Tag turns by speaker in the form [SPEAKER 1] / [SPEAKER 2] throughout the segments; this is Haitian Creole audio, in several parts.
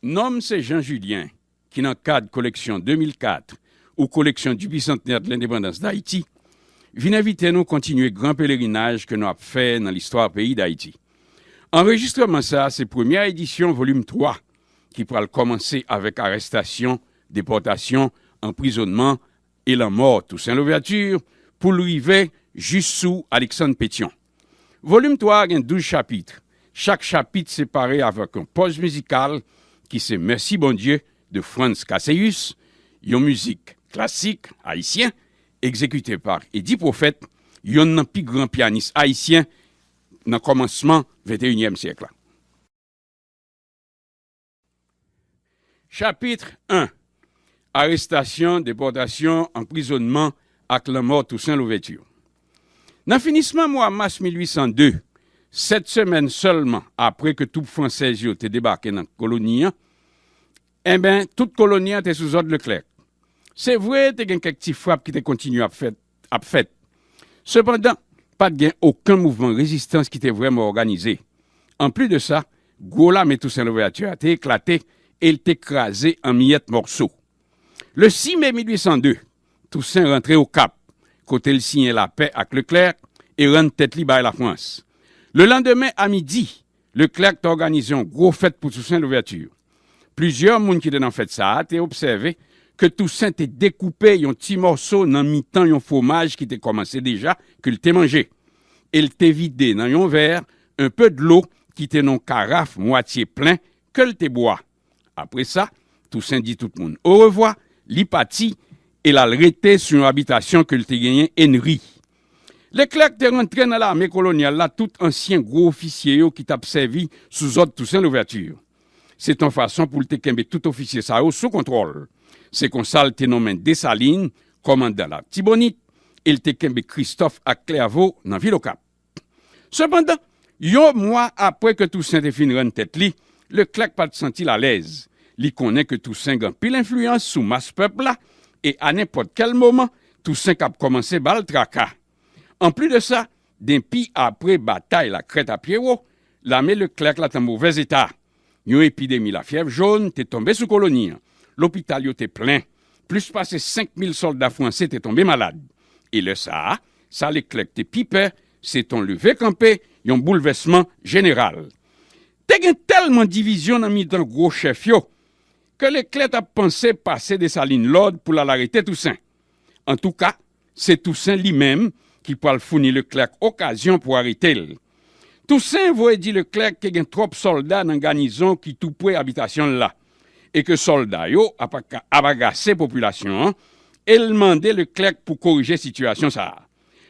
[SPEAKER 1] Non m se Jean Julien ki nan kad koleksyon 2004 ou koleksyon du bicentenaire de l'indépendance d'Haïti vin envite nou kontinye gran pelerinaj ke nou ap fè nan listwa peyi Dayiti. Anrejistreman sa se premyè edisyon volim 3 ki pral kòmanse avèk arestasyon, depòtasyon, anprizonman e lanmò Tousen Louvèti pou l rive jis sou Aleksann Petyon. Volim 3 a gen 12 chapitre, chak chapit separe avèk yon pòz mizikal ki se Mèsi Bondye de Frantz Casseyus, yon mizik klasik ayisyen egzekite pa Eddy Prophète, yonn nan pi gran pyanis ayisyen nan kòmansman venteyinyèm syèk la. Chapitre I Arestasyon, depòtasyon, anprizonnman ak lanmò Tousen Louvèti Nan finisman mwa mas 1802, sèt semèn sèlman apre ke twoup fransèz yo te debake nan koloni an, enben, tout koloni an te sou zòd Leklèk. Se vre, te gen kèk ti frap ki te kontinye ap fèt ap fèt. Sepandan, pa t gen oken mouvman rezistans ki te vrèman òganize. Anplis de sa, gwo lame Toussaint Louverture a te eklate e l te kraze an miyèt mòso. Le 6 me 1802, Toussaint rantre Okap, kote l siyen lapè ak Leclerc e rann tèt li bay Lafrans. Lelandemen a midi, Leclerc te òganize yon gwo fèt pou Toussaint Louverture. Plizyè moun ki te nan fèt sa a te obsève ke Toussaint te dekoupe yon ti mòso nan mitan yon fwomaj ki te kòmanse deja ke l te manje e l te vide nan yon vè enpe dlo ki te nan yon karaf mwatye plen ke l te bwa. Apre sa, Tousen di tout moun orevwa, li pati e l al rete sou yon abitasyon ke l te genyen Enri. Leklèk te rantre nan lame kolonyal la tout ansyen gwo ofisye yo ki t ap sèvi sou zòd Tousen Louvèti yo. Se t yon fason pou l te kenbe tout ofisye sa yo sou kontwòl. Se konsa l te nonmen Desalin kòmandan Latibonit e l te kenbe Kristòf ak Klèvo nan vil Okap. Sepandan, yon mwa apre ke Tousen te fin rann tèt li, Leklèk pa t santi l alèz. Li konnen ke Tousen gen anpil enfliyans sou mas pèp la e a nenpòt kèl moman, Tousen kab kòmanse ba l traka. Anplis de sa, denpi apre batay Lakrèt a Pyewo, lame Leklèk la t an movèz eta. Yon epidemi lafyèv jòn te tonbe sou koloni an. Lopital yo te plen. Plis pase 5 mil sòlda franse te tonbe malad. E lè sa a, sa Leklèk te pi pè, se t on leve kanpe, yon boulvèsman jeneral. Te gen tèlman divizyon nan mitan gwo chèf yo, ke Leklè t ap panse pase Desalin lòd pou l al arete Tousen. Antouka, Se Tousen li menm ki pwal founi Leclerc okazyon pou arete l. Tousen voye di Leclerc te gen twòp sòlda nan ganizon ki tou pwe abitasyon l la, e ke sòlda yo ap ap agase popilasyon an, e l mande Leclerc pou korije sitiyasyon sa a.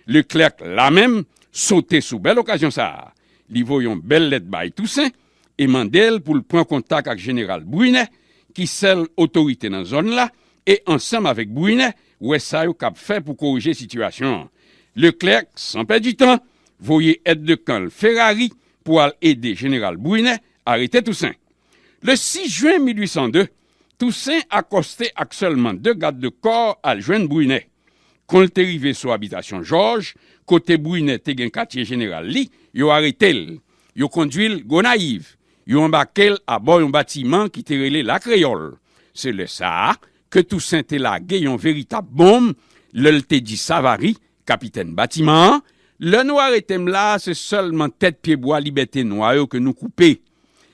[SPEAKER 1] Leclerc la menm sote sou bèl okazyon sa a, li voye yon bèl lèt bay Tousen e mande l pou l pran kontak ak Jeneral Brunet ki sèl otorite nan zòn la e ansanm avèk Brunet wè sa yo kab fè pou korije sitiyasyon an. Leclerc san pèdi tan voye èd de kan l Ferrari pou al ede Jeneral Brunet arete Tousen. Le 6 jen 1802, Tousen akòste ak sèlman 2 gad de kò al jwenn Brunet. Kon l te rive sou abitasyon Jòj kote Brunet te gen katye jeneral li, yo arete l. Yo kondui l Gonayiv, yo anbake l abò yon batiman ki te rele La Kreyòl. Se lè sa a ke Tousen te lage yon veritab bonm lè l te di Savary, kapitèn batiman an, Lè nou arete m la a, se sèlman tèt pyebwa libète nwa yo ke nou koupe.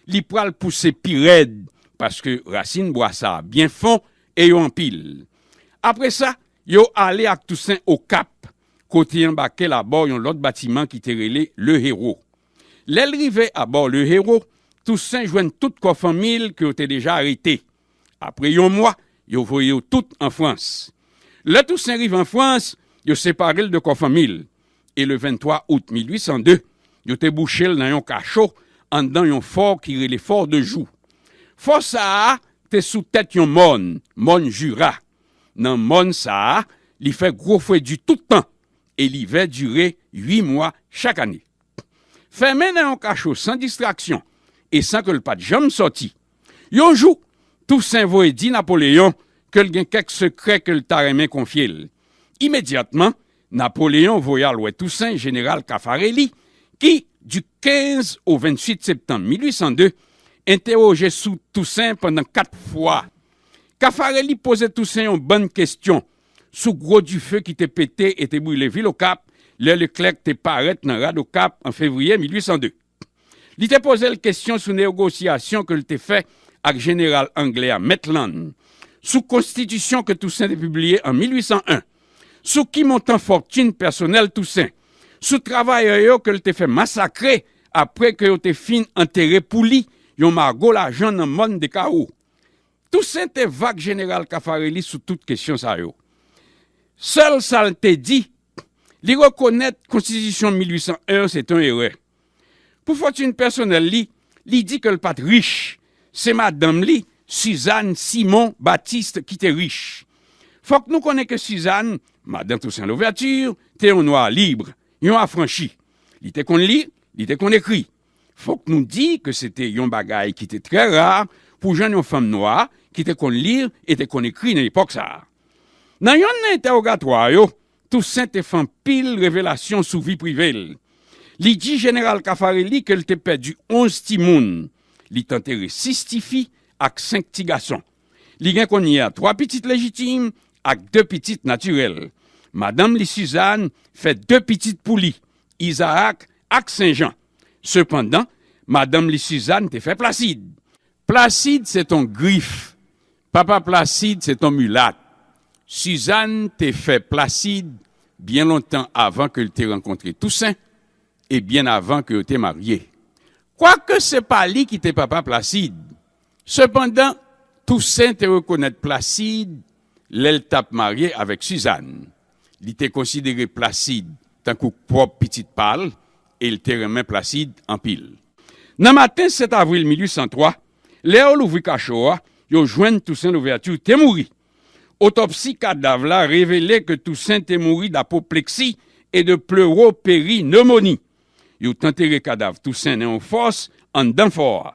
[SPEAKER 1] Li pral pouse pi rèd, paske rasin bwa sa a byen fon e yo anpil. Apre sa, yo ale ak Tousen Okap, kote anbake l abò yon lòt batiman ki te rele Le Héros. Lè l rive abò Le Héros, Tousen jwenn tout kò fanmi l ke yo te deja arete. Apre yon mwa, yo voye yo tout an Frans. Lè Tousen rive an Frans, yo separe l de kò fanmi l, e le 23 out 1802, yo te bouche l nan yon kacho anndan yon fò ki rele Fort de Joux. Fò sa a te sou tèt yon mòn, mòn Jura. Nan mòn sa a, li fè gwo fwe di tout tan e livè dire ui mwa chak ane. Fèmen nan yon kacho san distraksyon e san ke l pa t janm sòti. Yon jou, Tousen voye di Napoleyon ke l gen kèk sekrè ke l ta renmen konfye l. Imedyatman, Napoleyon voye al wè Tousen jeneral Kafareli ki, di 15 o 28 septanm 1802, entewoje sou Tousen pandan kat fwa. Kafareli poze Tousen yon bann kestyon sou gwo dife ki te pete e te brile vil Okap lè Leklèk te parèt nan rad Okap an fevriye 1802. Li te poze l kestyon sou neogosyasyon ke l te fè ak jeneral angle a Maitland, sou konstitisyon ke Tousen te pibliye an 1801, sou ki montan fòtin pèsonèl Tousen, sou travayè yo ke l te fè masakre apre ke yo te fin antere pou li yon mago lajan nan mòn Dekawo. Tousen te vag jeneral Kafareli sou tout kesyon sa yo. Sèl sa l te di, li rekonèt konstitisyon 1801 an se te yon erè. Pou fòtin pèsonèl li, li di ke l pa t rich, se madanm li, Sizàn Simon Batiste ki te rich. Fòk nou konnen ke Sizàn, madan Tousen Louvèti, te yon nwa libre, yon afranchi. Li te konn li, li te konn ekri. Fòk nou di ke se te yon bagay ki te trè ra pou jwenn yon fanm nwa ki te konn li e te konn ekri nan epòk sa a. Nan yonn nan entèwogatwa yo, Tousen te fè anpil revelasyon sou vi prive l. Li di Jeneral Kafareli ke l te pèdi onz timoun, li t antere sis tifi ak senk ti gason. Li gen kounye a twa pitit lejitim ak de pitit natirèl. Madanm li Suzanne fè de pitit pou li, Izaak ak Sen Jan. Sepandan, madanm li Suzanne te fè Plasid. Plasid se t on Grif. Papa Plasid se t on Milat. Suzanne te fè Plasid byen lontan avan ke l te rankontre Tousen e byen avan ke yo te marye. Kwake se pa li ki te papa Plasid, sepandan Tousen te rekonèt Plasid lè l t ap marye avèk Suzanne. Li te konsidere Placide tankou pwòp pitit pa l e l te renmen Placide anpil. Nan maten 7 avril 1803, lè yo louvri kacho a, yo jwenn Toussaint Louverture te mouri. Otopsi kadav la revele ke Toussaint te mouri d'apopleksi e de pleuroperi-pneumonie. Yo t antere kadav Toussaint nan yon fòs anndan fò a.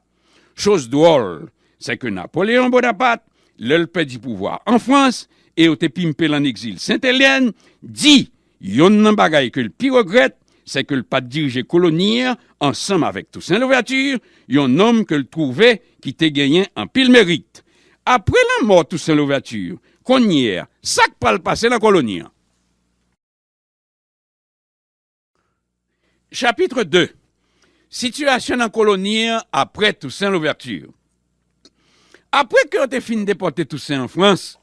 [SPEAKER 1] Choz dwòl, sè ke Napoleyon Bonapat, lè l pèdi pouvwa an Frans, e yo te pimpe l an egzil Sent Elyèn, di, yonn nan bagay ke l pi regrèt, sè ke l pa t dirije koloni an ansanm avèk Tousen Louvèti, yon nonm ke l twouve ki te genyen anpil merit. Apre lanmò Tousen Louvèti, konnyè a, sa k pral pase nan koloni an? Chapitre 2 Sitiyasyon nan koloni an apre Toussaint Louverture Apre ke yo te fin depòte Toussaint an Frans,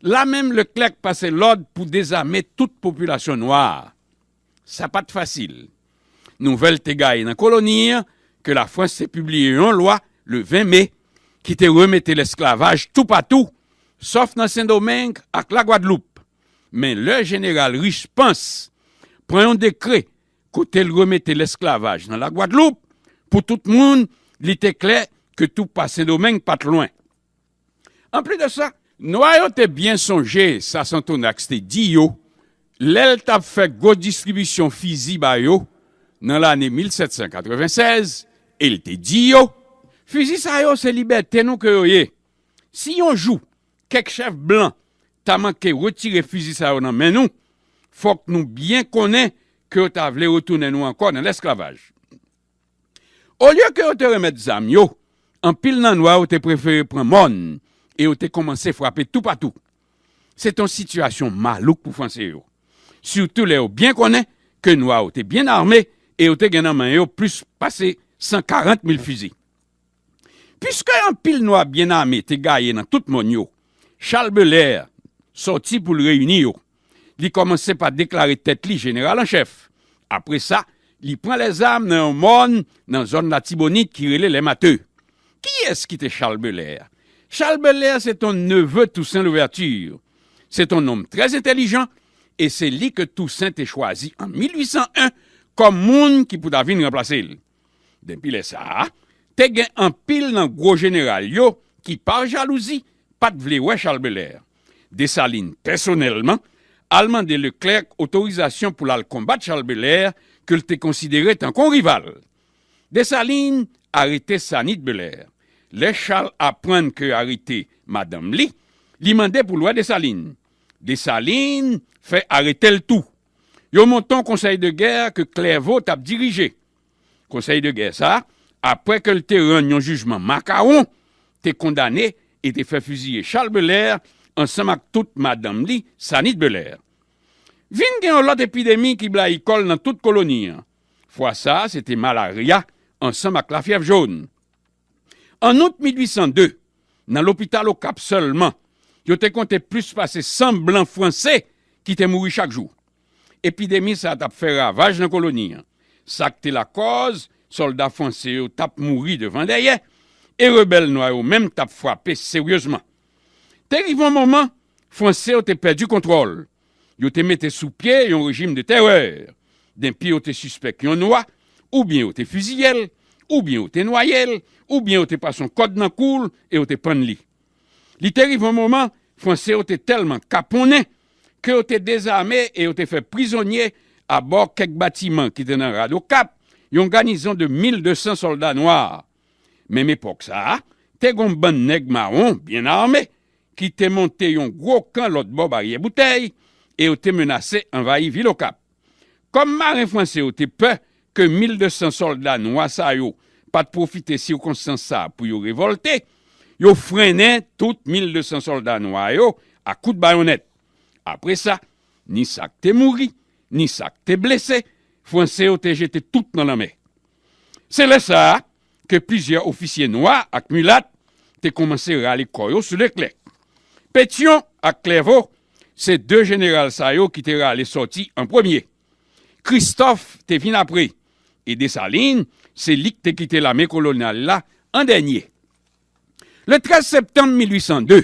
[SPEAKER 1] la menm Leclerc pase lòd pou dezame tout popilasyon nwa a. Sa pa t fasil. Nouvèl te gaye nan koloni an ke Lafrans te pibliye yon lwa le 20 me ki te remete lesklavaj toupatou, sòf nan Sendomeng ak Lagwadloup. Men lè jeneral Riche Pense pran yon dekrè kote l remete lesklavaj nan Lagwadloup pou tout moun, li te klè ke tou pa Sendomeng pa t lwen. Anplis de sa, Nwa yo te byen sonje sa Santonax te di yo lè l t ap fè gwo distribisyon fizi ba yo nan lane 1796 e l te di yo, Fizi sa yo se libète nou ke yo ye. Si yon jou Kèk chèf blan ta manke retire fizi sa yo nan men nou, fòk nou byen konnen ke yo ta vle retounen nou ankò nan lèsklavaj. Olye ke yo te remèt zam yo, anpil nan nwa yo te prefere pran mòn e yo te kòmanse frape toupatou. Se te yon sitiyasyon malouk pou Franse yo, sitou lè yo byen konnen ke nwa yo te byen ame e yo te gen nan men yo plis pase 140 mil fizi. Piske anpil nwa byen ame te gaye nan tout mòn yo, Chal Belè sòti pou l reyini yo. Li kòmanse pa deklare tèt li jeneral an chèf. Apre sa, li pran lèzam nan yon mòn nan zòn Latibonit ki rele Lè Mate. Kiyès ki te Chal Belè? Chal Belè se t on neve Tousen Louvèti. Se t on nonm trè entèlijan e se li ke Tousen te chwazi an 1801 kòm moun ki pou ta vin ranplase l. Denpi lè sa a, te gen anpil nan gwo jeneral yo ki pa jalouzi pa t vle wè Chal Belè. Desalin pèsonèlman al mande Leklèk otorizasyon pou l al konbat Chal Belè ke l te konsidere tankou yon rival. Desalin arete Sanit Belè. Lè Chal aprann ke yo arete madanm li, li mande pou l wè Desalin. Desalin fè arete l tou. Yo monte yon konsèy de gè ke Klèvo t ap dirije. Konsèy de gè sa, apre ke l te rann yon jijman makawon, te kondane e te fè fiziye Chal Belè ansanm ak tout madanm li, Sanit Belè. Vin gen yon lòt epidemi ki blayi kò l nan tout koloni an. Fwa sa, se te malarya ansanm ak lafyèv jòn. An out 1802, nan lopital Okap sèlman, yo te konte plis pase 100 blan franse ki te mouri chak jou. Epidemi sa a t ap fè ravaj nan koloni an, sa k te lakòz sòlda franse yo t ap mouri devan dèyè, e rebèl nwa yo menm t ap frape seryezman. Te rive yon moman, Franse yo te pèdi kontwòl Yo te mete sou pye yon rejim de tèrè. Denpi yo te sispèk yon nwa, oubyen yo te fiziye l, oubyen yo te nwaye l, oubyen yo te pase yon kòd nan kou l e yo te pann li. Li te rive yon moman, Franse yo te tèlman kaponnen ke yo te dezame e yo te fè prizonye abò kèk batiman ki te nan rad Okap yon ganizon de 1200 sòlda nwa. Menm epòk sa a, te gen yon bann nèg mawon byen ame ki te monte yon gwo kan lòtbò Baryè Boutèy e yo te menase anvayi vil Okap. Kòm maren franse yo te pè ke 1200 sòlda nwa sa yo pa t pwofite sikonstans sa a pou yo revòlte, yo frennen tout 1200 sòlda nwa yo a kout bayonnèt. Apre sa, ni sa k te mouri, ni sa k te blese, Franse yo te jete tout nan lanmè. Se lè sa a ke plizyè ofisye nwa ak milat te koumanse rale kò yo sou Leklè. Petyon ak Klèvo se de jeneral sa yo ki te rale sòti an premye. Kristòf te vin apre e Desalin se li k te kite lame kolonyal la an dènye. Le 13 septanm 1802,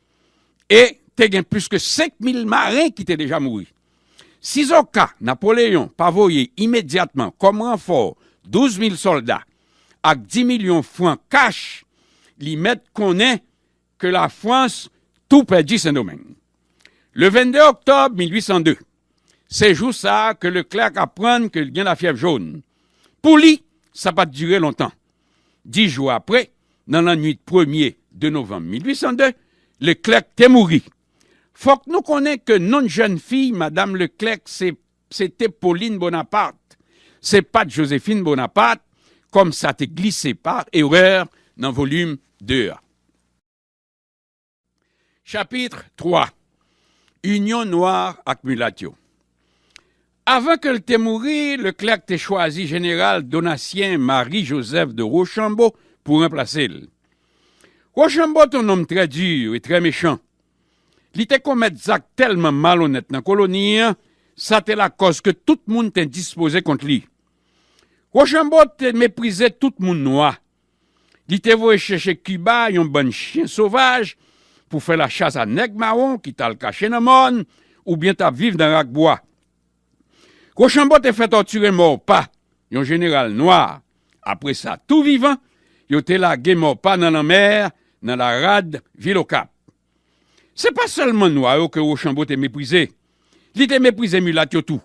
[SPEAKER 1] e te gen plis ke 5 mil maren ki te deja mouri. Sizoka Napoleyon pa voye imedyatman kòm ranfò 12 mil sòlda ak 10 milyon fran kach, li mèt konnen ke Lafrans tou pèdi Sendomeng. Le 22 oktòb 1802, se jou sa a ke Leclerc aprann ke li gen lafyèv jòn. Pou li, sa pa t dire lontan. Dis jou apre, nan lannwit premye de novanm 1802, Leclerc te mouri. Fòk nou konnen ke non jèn fi Madam Leclerc se se te Pauline Bonaparte, se pa t Josephine Bonaparte, kòm sa te glise pa erè nan volim ii a. Chapitre 3 Inyon nwa ak milat yo Avan ke l te mouri, Leclerc te chwazi Jeneral Donatien Marie Joseph de Rochambeau pou ranplase l. Rochambeau te yon nonm trè dur e trè mechan. Li te komèt zak tèlman malonèt nan koloni an, sa te lakòz ke tout moun te endispoze kont li. Rochambeau te meprize tout moun nwa Li te voye chèche Kiba yon bann chyen sovaj pou fè lachas a nèg mawon ki t al kache nan mòn oubyen t ap viv nan rak bwa. Rochambeau te fè tòtire Maurepas, yon jeneral nwa. Apre sa, tou vivan, yo te lage Maurepas nan lanmè nan la rad vil Okap. Se pa sèlman nwa yo ke Wochanbo te meprize, li te meprize milat yo tou.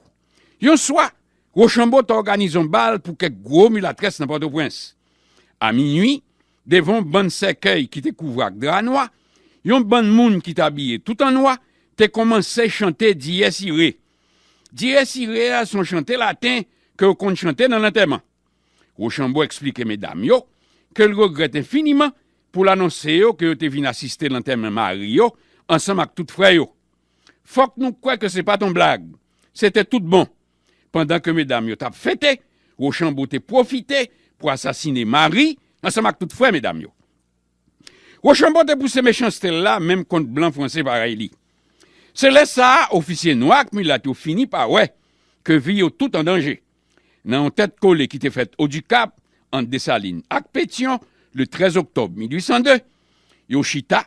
[SPEAKER 1] Yon swa, Wochanbo te òganize yon bal pou kèk gwo milatrès nan Pòtoprens. A minui, devan yon bann sèkèy ki te kouvri ak dra nwa, yon bann moun ki te abiye tout an nwa te kòmanse chante Dies Irae. Dies Irae a se yon chante laten ke yo konn chante nan lantèman. Rochambeau eksplike medam yo ke l regrèt enfiniman pou l anonse yo ke yo te vin asiste lantèman mari yo ansanm ak tout frè yo. Fòk nou kwè ke se pa t yon blag, se te tout bon. Pandan ke medam yo t ap fete, Rochambeau te pwofite pou asasine mari ansanm ak tout frè medam yo. Rochambeau te pouse mechanste l la menm kont blan franse parèy li. Se lè sa a ofisye nwa ak milat yo fini pa wè ke vi yo tout an danje. Nan yon tèt kole ki te fèt Odikap, ant Desalin ak Petyon, le 13 oktòb 1802, yo chita,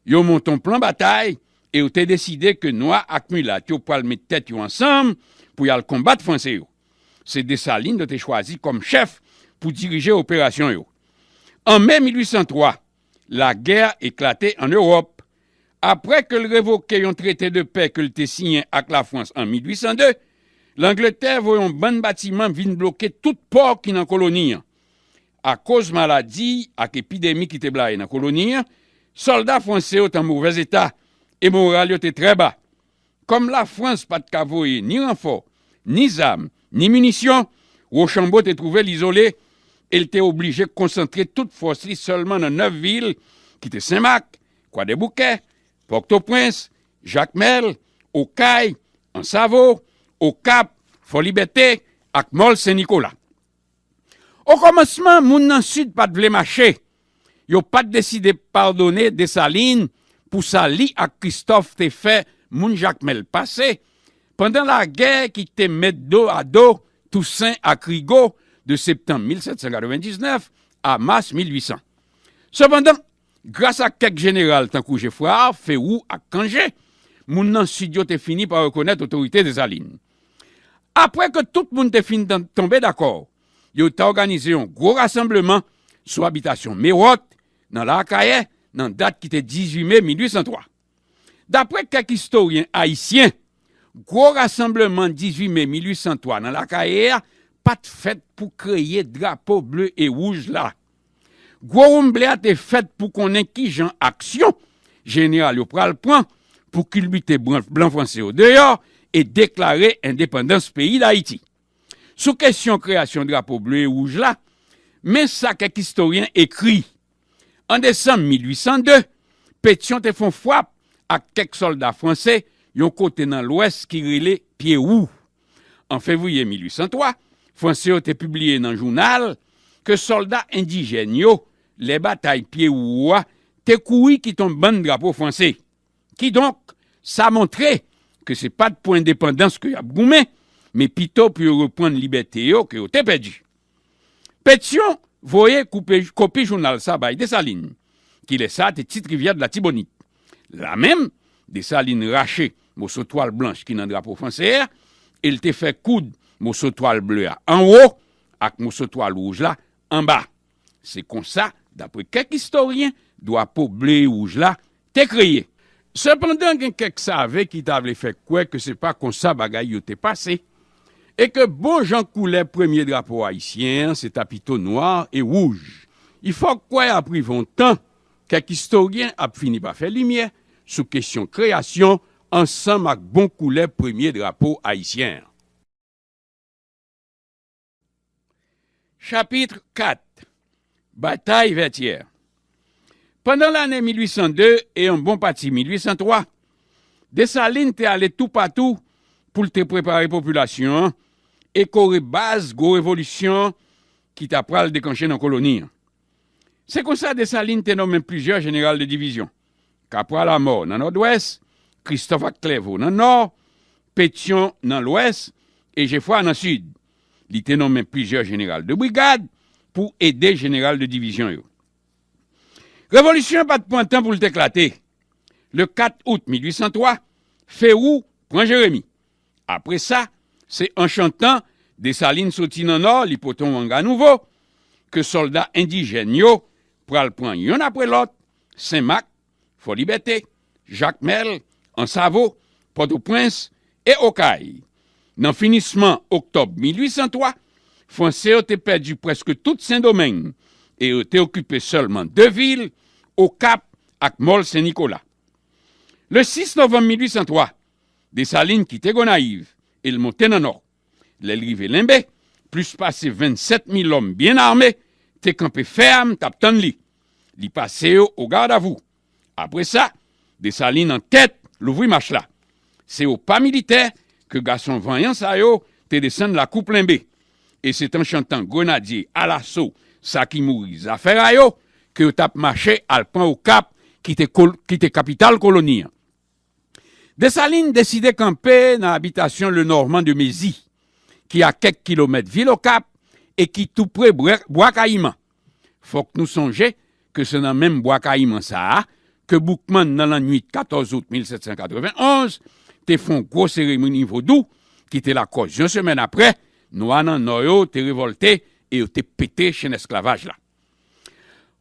[SPEAKER 1] yo monte yon plan batay e yo te deside ke Nwa ak Milat yo pral met tèt yo ansanm pou y al konbat Franse yo. Se Desalin yo te chwazi kòm chèf pou dirije operasyon yo. An me 1803, lagè eklate an Ewòp. Apre ke l revoke yon trete de pè ke l te siyen ak Lafrans an 1802, Langletè voye yon bann batiman vin bloke tout pò ki nan koloni an. Akoz maladi ak epidemi ki te blayi nan koloni an, sòlda franse yo te an movèzeta e moral yo te trè ba. Kòm Lafrans pa t ka voye ni ranfò, ni zam, ni minisyon, Wochanbo te twouve l izole e l te oblije konsantre tout fòs li sèlman nan 9 vil ki te Sen Mak, Kwadèboukè, Pòtoprens, Jakmèl, Okay, Ansavo, Okap, Fòlibète ak Mòl Sen Nikola. Okòmansman, moun nan Sid pa t vle mache. Yo pa t deside padone Desalin pou sa li ak Kristòf te fè moun Jakmèl pase pandan lagè ki te met do a do Tousen ak Rigo de septanm 1799 a mas 1800. Sepandan, Gras ak kèk jeneral tankou Geffrard, Ferou ak Cangé, moun nan Sid yo te fini pa rekonèt otorite Desalin. Apre ke tout moun te fin tonbe dakò, yo ta òganize yon gwo rasanbleman sou abitasyon Mérot, nan Laakayè, nan dat ki te 18 me 1803. Dapre kèk istoryen ayisyen, gwo rasanbleman 18 me 1803 nan Lakaye a pa t fèt pou kreye drapo ble e wouj la. Gwo woumble a te fèt pou konnen ki jan aksyon jeneral yo pral pran pou kilbite blan franse yo deyò e deklare endepandans peyi Dayiti. Sou kesyon kreyasyon drapo ble e wouj la, men sa kèk istoryen ekri. An desanm 1802, Petyon te fon fwap ak kèk sòlda franse yon kote nan lwès ki rele Pye Wou. An fevriye 1803, Franse yo te pibliye nan jounal ke sòlda endijèn yo, lè batay Pye Wou a, te kouri kit on bann drapo franse. Kidonk, sa montre ke se pa t pou endepandans ke y ap goumen, men pito pou yo reprann libète yo ke yo te pèdi. Petyon voye koupe kopi jounal sa bay Desalin, ki lè sa te tit rivyè Dlatibonit. La menm, Desalin rache moso twal blanch ki nan drapo franse a e l te fè koud moso twal ble a anwo ak moso twal wouj la anba. Se konsa, dapre kèk istoryen, drapo ble e wouj la Te kreye. Sepandan gen kèk save ki ta vle fè kwè ke se pa konsa bagay yo te pase, e ke bon jan koulè premye drapo ayisyen an se ta pito nwa e wouj. I fòk kwè aprive yon tan, kèk istoryen ap fini pa fè limyè sou kesyon kreyasyon ansanm ak bon koulè premye drapo ayisyen an. Chapitre 4 Batay Vètyè Pandan lane 1802 e yon bon pati 1803, Desalin te ale toupatou pou l te prepare popilasyon an e kore baz gwo revolisyon ki ta pral deklanche nan koloni an. Se konsa Desalin te nonmen plizyè jeneral de divizyon, Kapwa Lamò nan Nòdwès, Kristòf ak Klèvo nan Nò, Petyon nan Lwès e Jefwa nan Sid. Li te nonmen plizyè jeneral de brigad pou ede jeneral de divizyon yo. Revolisyon an pa t pran tan pou l t eklate. Le 4 out 1803, Ferou pran Jeremi. Apre sa, se an chantan Desalin soti nan nò li pote yon wanga nouvo, ke sòlda endijèn yo pral pran yonn apre lòt, Sen Mak, Fòlibète, Jakmèl, Ansavo, Pòtoprens e Okay. Nan finisman oktòb 1803, Franse yo te pèdi prèske tout Sendomeng e yo te okipe sèlman de vil, Okap ak Mòl Sen Nikola. Le 6 novanm 1803, Desalin kite Gonayiv e l monte nan nò. Lè l rive Lenbe, plis pase 27 mil òm byen ame te kanpe fèm t ap tann li. Li pase yo ogadavou. Apre sa, Desalin an tèt louvri mach la. Se o pa militè ke gason vanyan sa yo te desann lakou Plenbe. E se t an chantan Grenadye alaso sa ki mouri zafè ra yo ke yo t ap mache al pran Okap ki te kapital koloni an. Desalin deside kanpe nan abitasyon Lenormand de Mézy, ki a kèk kilomèt vil Okap e ki tou pre Bwa Kayiman. Fòk nou sonje ke se nan menm Bwa Kayiman sa a ke Boukman nan lannwit 14 out 1791 te fè yon gwo seremoni vodou ki te lakòz yon semèn apre, Nwa nan Nò yo te revòlte e yo te pete chenn esklavaj la.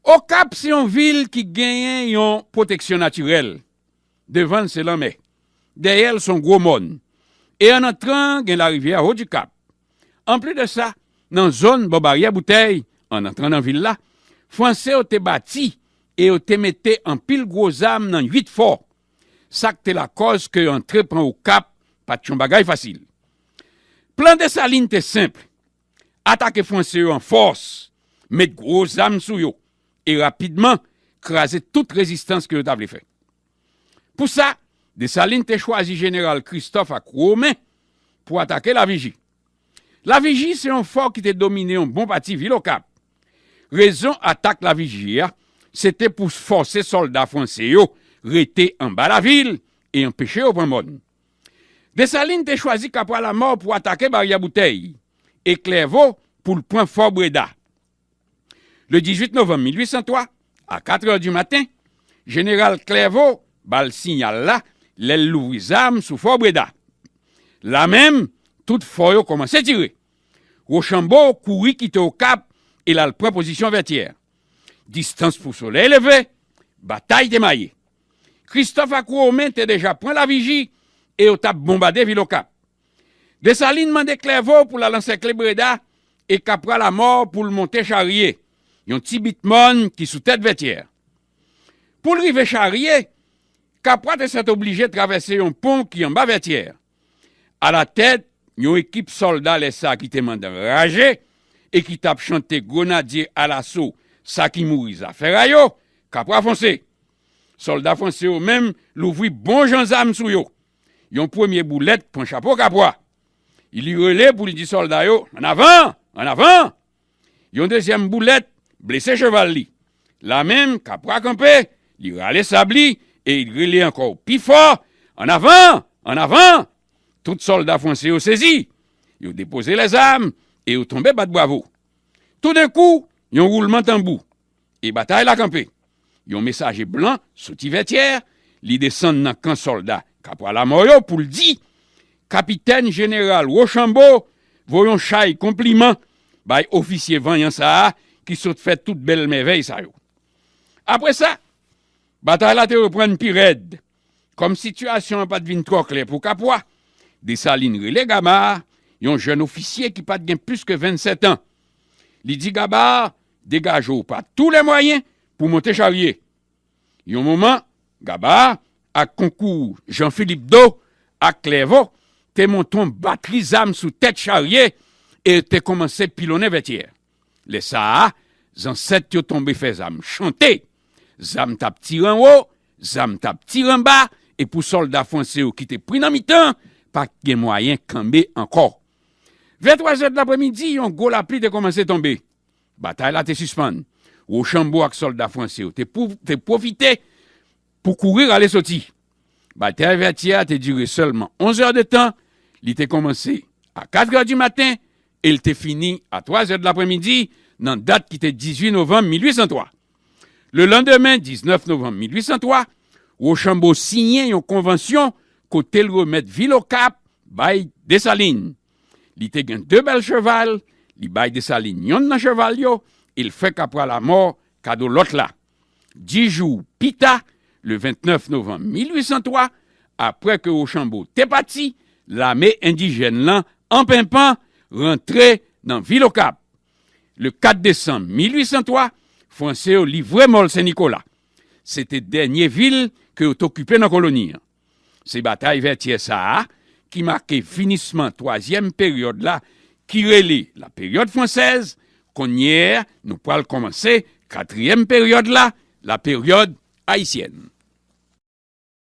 [SPEAKER 1] Okap se yon vil ki genyen yon pwoteksyon natirèl Devan l se lanmè. Dèyè l s on gwo mòn. E an antran an gen larivyè a Haut-du-Cap. Anplis de sa, nan zòn bò Baryè Boutèy, an antran nan vil la, Franse yo te bati e yo te mete anpil gwo zam nan 8 fò. Sa k te lakòz ke antre pran Okap pa t yon bagay fasil. Plan Dessalines te senp. Atake Franse yo an fòs, met gwo zam sou yo e rapidman kraze tout rezistans ke yo ta vle fè. Pou sa, Desalin te chwazi jeneral Kristòf ak Women pou atake Laviji. Laviji se yon fò ki te domine yon bon pati vil Okap. Rezon atak Laviji a, se te pou fòse sòlda Franse yo rete anba lavil e anpeche yo pran mòn. Desalin te chwazi Kapwa Lamò pou atake Baryè Boutèy e Klèvo pou l pran Fò Breda. Le 18 novanm 1803, a katrè di maten, jeneral Klèvo ba l siyal la lè l louvri zam sou Fò Breda. La menm, tout fò yo kòmanse tire. Wochanbo kouri kite Okap e l al pran pozisyon Vètyè. Distans pou solèy leve, batay te maye. Kristòf ak Women te deja pran Laviji e yo t ap bonbade vil Okap. Desalin mande Klèvo pou l al ansèkle Breda e Kapwa Lamò pou l monte Charye, yon ti bit mòn ki sou tèt Vètyè. Pou l rive Charye, Kapwa te sètoblije travèse yon pon ki anba Vètyè. Alatèt yon ekip sòlda lè sa ki te mandan raje e ki t ap chante Grenadye alaso sa ki mouri zafèray yo, Kapwa fonse! Sòlda franse yo menm louvri bon jan zam sou yo. Yon premye boulèt pran chapo Kapwa. Li rele pou li di sòlda yo, Annavan! Annavan! Yon dezyèm boulèt blese cheval li. La menm, Kapwa kanpe, li rale sab li e li rele ankò pi fò, An avan! An avan! Tout sòlda fwanse yo sezi. Yo depoze lèzam e yo tonbe bat bwavo. Toudenkou, yon woulman tanbou, e batay la kanpe. Yon mesaje blan soti Vètyè, li desann nan kan sòlda Kapwa Lamò yo pou l di, Kapitèn Jeneral Wochanbo voye yon chay konpliman bay ofisye vanyan sa a ki sot fè tout bèl mèvèy sa yo. Apre sa, batay la te reprann pi rèd. Kòm sitiyasyon an pa t vin twò klè pou Kapwa, Desalin rele Gabar, yon jèn ofisye ki pa t gen plis ke vennsètan. Li di Gabar, Degaje w pa tou lè mwayen pou w monte charye. Yon moman, Gaba, ak konkou Jan Filip Do ak Klèvo, te monte yon batri zam sou tèt charye e te kòmanse pilonnen Vètyè. Lè sa a, zansèt yo tonbe fè zam chante. Zam t ap tire anwo, zam t ap tire anba, e pou sòlda fwanse yo ki te pri nan mitan, pa t gen mwayen kanbe ankò. Vè twazè dlapremidi, yon gwo lapli te kòmanse tonbe. Batay la te sispann. Wochanbo ak sòlda franse yo te pwofite pou kouri rale soti. Batay Vètyè a te dire sèlman onzè de tan, li te kòmanse a katrè di maten e l te fini a twazè dlapranmidi nan dat ki te 18 novanm 1803. Lelandemen, 19 novanm 1803, Wochanbo siyen yon konvansyon kote l remèt vil Okap bay Desalin. Li te gen de bèl cheval, li bay Desalin yonn nan cheval yo e l fè kapwa lamò kado lòt la. Dis jou pi ta, le 29 novanm 1803, apre ke Rochambo te pati, lame endijèn lan an penpan rantre nan vil Okap. Le 4 desanm 1803, Franse yo livre Mòl Sen Nikola. Se te dènye vil ke yo t okipe nan koloni an. Se batay Vètyè sa a ki make finisman twazyèm peryòd la ki rele la peryòd fransèz, kounye a nou pral kòmanse katriyèm peryòd la, la peryòd ayisyèn.